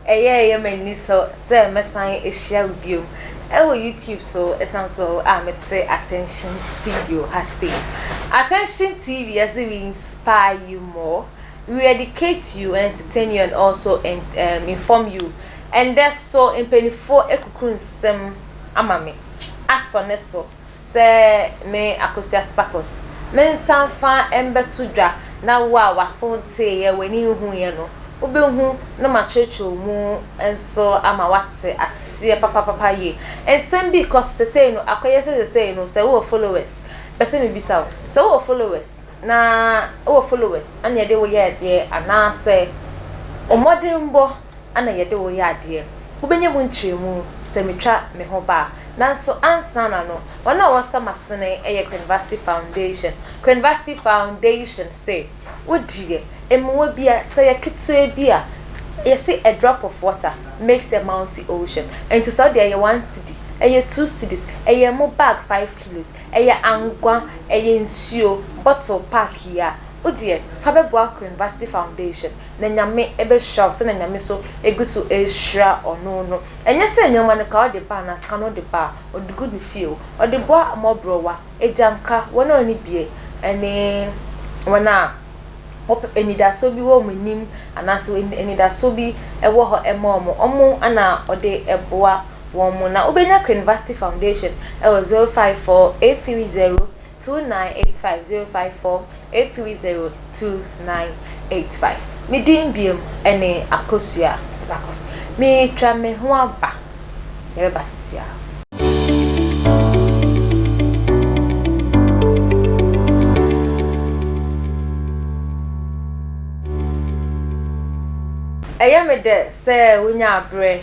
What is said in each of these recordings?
ɛyɛ ɛyɛ m'ani so sɛ mɛsan ahyia wo bio ɛwɔ youtube so ɛsan so a mete attention studio ha sei attention tv as we inspire you more we educate you entertain you and also and, um, inform you Ɛndɛ so mpaninfoɔ akuku nsɛm ama me asɔ ne so sɛ me Akosua Sparkles me nsa mfa mbɛto dwa na wo a w'aso nteeɛ w'ani nhuuiɛ no wo bɛ hu na ma kyerɛkyerɛw mu nso ama w'ate aseɛ papapapa yie nsɛm bi kɔ so sɛsɛi no akɔyɛ sɛ sɛsɛi no sɛ wo wɔ followers pɛ sɛ me bisa wo sɛ wo wɔ followers na wo wɔ followers ɛna yɛde wo yɛ adeɛ anaa sɛ wo mmɔdenbɔ na yɛde wo yɛ adeɛ. Wobɛnya mu ntrɛmu sɛ metwa me ho ba a. Nanso ansana no, wɔn a wɔsa m'asene yɛ Krenvasti Foundation. Krenvasti Foundation se, Wo deɛ, mmoa bi a, sɛ ɛyɛ ketewa bi a, yɛse a drop of water makes a mounty ocean. Enti sɛ wo deɛ ɛyɛ one cedi, ɛyɛ two cedis, ɛyɛ mo bag five kilos, ɛyɛ angwa, ɛyɛ nsuo bottle pack yi a, wo deɛ, fa bɛboa Krenvasti Foundation. na Nyame bɛhyira wo sɛdeɛ Nyame nso gu so rehyira ɔno no. Ɛnyɛ sɛ nnoɔma no koraa ɔde ba anaa sika no ɔde ba a, ɔde gu ne fie o. Ɔde boa mmɔborɔwa, agya nka wɔn a wɔnni bie ne wɔn a wɔpɛ anidasoɔ bi wɔ wɔn anim anaasɛ wɔn anidasoɔ bi wɔ hɔ ma wɔn, wɔn na ɔde boa wɔn. Na wobɛnya Queen Vashti Foundation wɔ 054830. Two nine eight five zero five four eight three zero two nine eight five Me din biom ne Akosua Sparkles. Meretwa me ho aba. Yɛbɛba sesiaa. Ɛyɛ me dɛ sɛ wonya aberɛ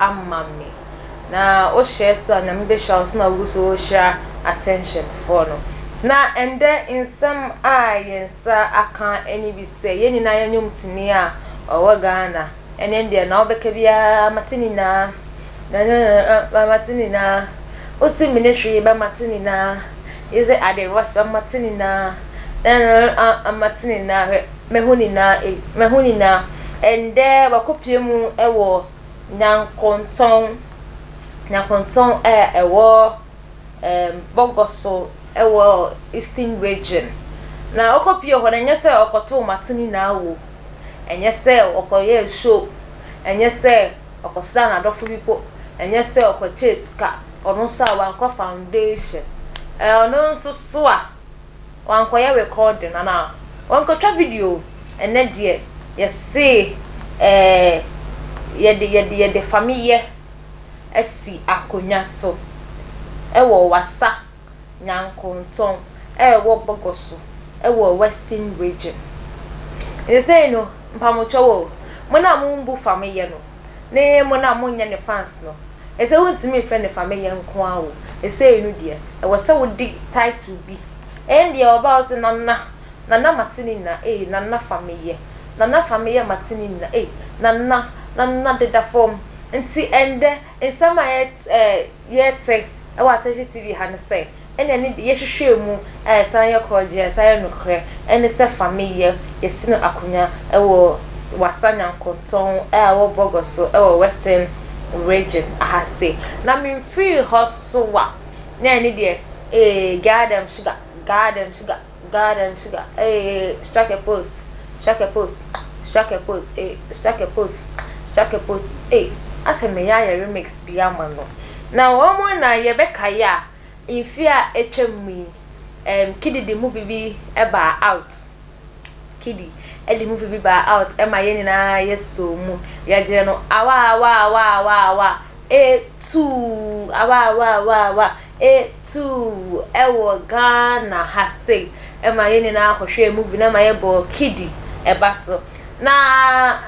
ama me na wohyɛ so a Nyame behyira wo so na wogu so rehyira attention foɔ no na ɛndɛ nsɛm a yɛn nsa aka ɛne bi sɛ yɛn nyinaa yɛ nnwom tini a ɔwɔ Ghana ɛne ndeɛ na wobɛka biara mate nyinaa nananana mate nyinaa wosi mene hwee ba mate nyinaa yɛsɛ ade rush ba mate nyinaa nananana mate nyinaa hwɛ mahu nyinaa ei mahu nyinaa ɛndɛ wakɔpie mu ɛwɔ Nyankontɔn, Nyankontɔn a ɛwɔ ɛɛm Bɔgɔso ɛwɔ Eastern Region. Na ɔkɔ pie hɔ no, ɛnyɛ sɛ ɔkɔtoo mate ne nyinaa wɔ mu. Ɛnyɛ sɛ ɔkɔyɛɛ show, ɛnyɛ sɛ ɔkɔsraa n'adɔfo bi po, ɛnyɛ sɛ ɔkɔkyɛɛ sika, ɔno nso a wankɔ foundation. Ɛɛ ɔno nso so a. Wankɔyɛ recording anaa? Wankɔtwa video o. Ɛnnɛ deɛ yɛse ɛɛ yɛde yɛde yɛde fameyɛ asi akonnwa so ɛwɔ Wassa Nyankontɔn a ɛwɔ Bogoso ɛwɔ Western Region. Seesei no mpamokyɛw o, mo no a mombu fameyɛ no, Ne yɛn mo no a monyɛ ne fans no, ɛsɛ wontumi mfrɛ no fa me yɛn nko ara o, ɛsei no deɛ ɛwɔ sɛ wode title bi, ɛndeɛ ɔbaa ɔse Nana, Nana mate ne nyina ei, Nana fa me yɛ, Nana fa me yɛ mate ne nyina ei, Nana, Nana deda fam, nti ɛndɛ nsɛm a yɛte ɛɛ. yɛte wɔ Atɛhyɛ TV ha no sɛ, ɛne ɛne deɛ yɛhwehwɛɛ mu a ɛsan yɛ korɔgyeɛ a ɛsan yɛ nokorɛ ne sɛ fa me yɛ yɛsene akonya wɔ Wassa Nyankontɔn a ɛwɔ Bɔgɔ so wɔ Western Region ha sei. Na memfirii hɔ so a, na ɛne deɛ, ee, Gaa dem sugar, gaa dem sugar. Ghana dem sugar ee strike a pose strike a pose strike a pose ee strike a pose strike a pose ee asɛ me ya yɛ remix bi ama no na wɔn na yɛ bɛ ka ya nfi a etwa mu yi ɛm kidi di movie bi ɛba out kidi ɛdi movie bi ba out ɛma yɛ nyinaa yɛ so mu yɛ gye no awa awa awa awa awa Eh tuu awawawawaa eh tuu Ɛwɔ Ghana ha sei Ɛma yɛn nyinaa kɔhwɛɛ movie no ɛma yɛbɔɔ kidi Ɛba so na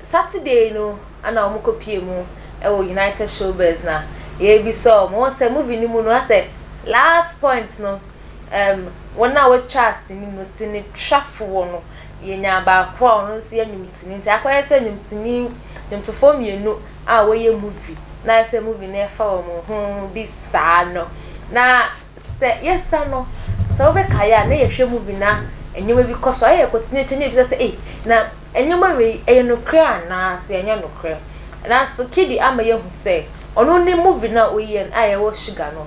Saturday no ɛna wɔn kɔpie mu ɛwɔ United Showbiz na yɛbisa wɔn wɔn sɛ movie no mu no asɛ last point no ɛm wɔn a wɔtwaa sini no sini twafoɔ no yɛnyaa baako a ɔno nso yɛ nnwomtoni nti akɔyɛ sɛ nnwomtoni nnwomtofoɔ mmienu a wɔyɛ movie na ayɛ sɛ movie no ɛfa wɔn ho bi saa no na sɛ yɛsa no sɛ wobɛkaeɛ a na yɛhwɛ movie na nneɛma bi kɔ so ayɛ kɔtene akyɛ ne ebisa sɛ ei na nneɛma wei ɛyɛ nokorɛ anaa sɛ ɛnyɛ nokorɛ nanso kidi ama yɛhu sɛ ɔno ne movie no a ɔyɛ a yɛwɔ sugar no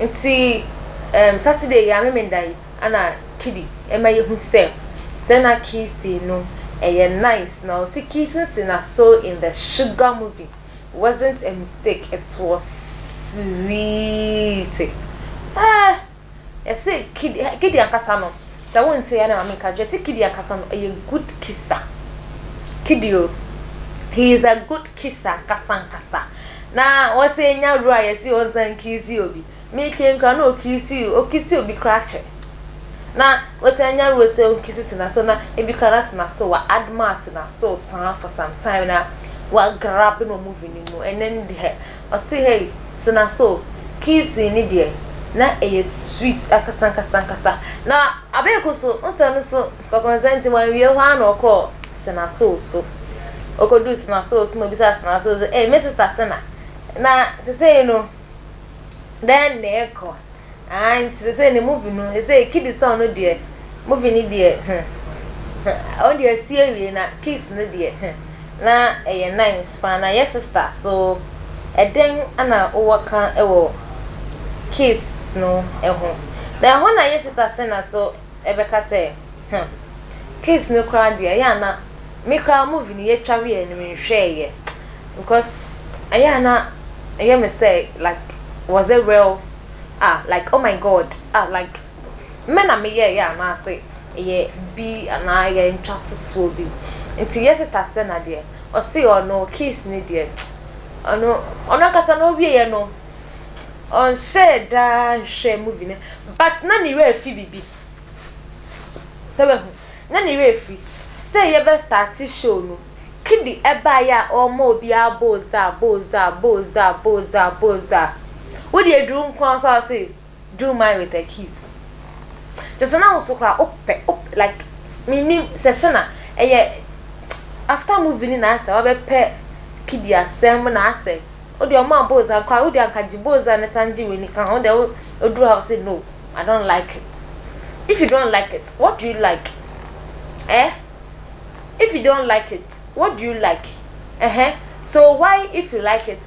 Ntsi ehm Saturday yi a Memenda yi ana Kidi ma yehu sɛ sɛ na Kissing no ɛyɛ nice na ɔse Kissing si na so in the sugar movie wasn't a mistake it was sweet eh yɛse Kidi Kidi ankasa no Sɛ wo nte a na ma me nka kyerɛ sɛ kidi ankasa no ɛyɛ good kisa kidi o he is a good kisa ankasa ankasa na wɔse enya wura a yɛse ɔnsan nkiisi obi me kien koraa na okiisi okisi obi koraa kyɛ na wɔse anya wura sɛ onkisi sena so na ebi koraa na sena so wa adma sena so saa for some time na wa grab no movie no mu ɛnɛ no deɛ Ɔse hey tena so o. Kiisii no deɛ na ɛyɛ sweet ankasa ankasa ankasa. Na Abeku so nsɛm no so kɔkɔnsa nti wanwie hɔ ara na ɔkɔɔ Sena Soul so. Ɔkɔduu Sena Soul so na ɔbisaa Sena Soul sɛ hey me sister Sena na sesei no dɛn na ɛrekɔ? ae nti sesei ne movie no sesei kidi song no deɛ movie no deɛ hmm hmm ɔno deɛ asi awie na kiss no deɛ hmm na ɛyɛ nice paa na yɛ sista so ɛdɛn ana wowɔ ka wɔ kiss no ho na ɛhɔ na yɛ sista sena so ɛbɛka sɛ huh case no koraa deɛ ɛyɛ a na me koraa movie no yɛtwa wieɛ no menhwɛɛyɛ because ɛyɛ a na ɛyɛ me sɛ like was it real ah like oh my God ah like mɛ na meyɛɛyɛ anaase ɛyɛ bi anaa ɛyɛ ntwatosoɔ bi nti yɛ sister Sena deɛ ɔse ɔno case no deɛ ɔno ɔno ankasa no ɔwieɛ no ɔnhyɛɛ da nhwɛɛ movie no but na ne werɛ afi biribi. Sɛ wahu, na ne werɛ afiri sɛ yɛbɛ starte show no, Kidi baeɛ a ɔrema obiara booza booza booza booza booza. Wo deɛ aduru nko ara so a ɔse. Do mine with a kiss Kyerɛ sɛ na wo nso koraa wopɛ wopɛ like mennim sɛ sɛ na ɛyɛ after movie no na ayɛ sɛ wabɛpɛ Kidi asɛm na ayɛ sɛ wo deɛ ɔmaa Boza nko ara wo deɛ anka gye Boza na san gye w'ani ka ho wo deɛ wo woduru ha wo sɛ no I don't like it if you don't like it what do you like eh if you don't like it what do you like eh so why if you like it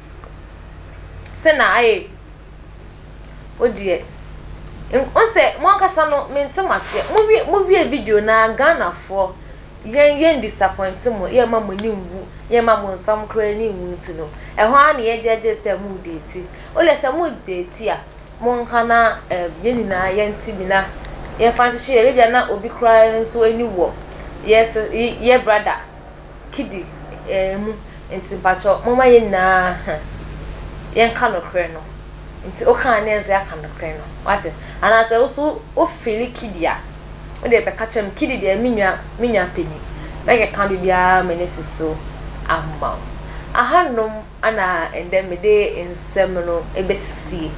sɛ na ayɛ yi wo deɛ n sɛ mo ankasa no mente mo aseɛ mo wie mo wie video no ara Ghanafoɔ yɛn yɛn disappoint mo yɛn ma mo ani nwu yɛn ma mo nsam koraa ani nwu nti no ɛhɔ ara na yɛgye agye sɛ mo deeti wo deɛ sɛ mo deeti a mo nka na ɛɛ yɛn nyinaa yɛn ti nyina yɛn fa nhyehyɛ yɛ bebia na obi koraa nso ani wɔ yɛ sɛ yɛ brada kidi eh mu nti mpakyɛw momma yɛn nyinaa huh yɛnka nokorɛ no nti woka a ne yɛn nso yɛaka nokorɛ no wate anaasɛ wo so wo fili kidi a wo deɛ bɛka kyerɛ me kidi deɛ me nwa me nwa panin mɛkeka biribiara m'ani si so ama wo ahanom ana ɛndɛ mede nsɛm no ɛbɛsisie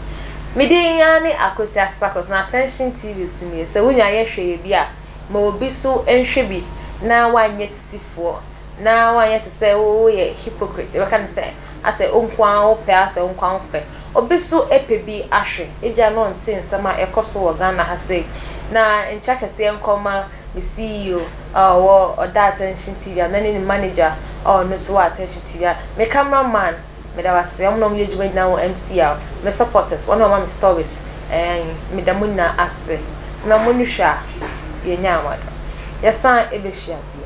me din ara ne Akwasi Asipakɔs na Attention TV so nie sɛ wonya yɛ hwɛ yɛ bi a Ma obi so nhwɛ bi na wanyɛ sisifoɔ na wanyɛ te sɛ wo woyɛ hypocrite yɛbɛka no sɛ asɛ wo nko ara wo pɛ asɛ wo nko ara wo pɛ obi so pɛ bi ahwɛ ebia na ɔnte nsɛm a ɛkɔ so wɔ Ghana ha sei na nkyɛ kɛseɛ nkɔ ma me CEO a ɔwɔ ɔda attention TV a na ne ne manager a ɔno nso wɔ attention TV a me camera man Meda mo ase wɔn na wɔn yɛ adwuma nyinaa wɔ MCR, me supporters, wɔn na wɔn ma me stories and meda mo nyinaa ase na mo ani hwɛ a yɛ nya ama do yɛ san ɛbɛ hyia bio.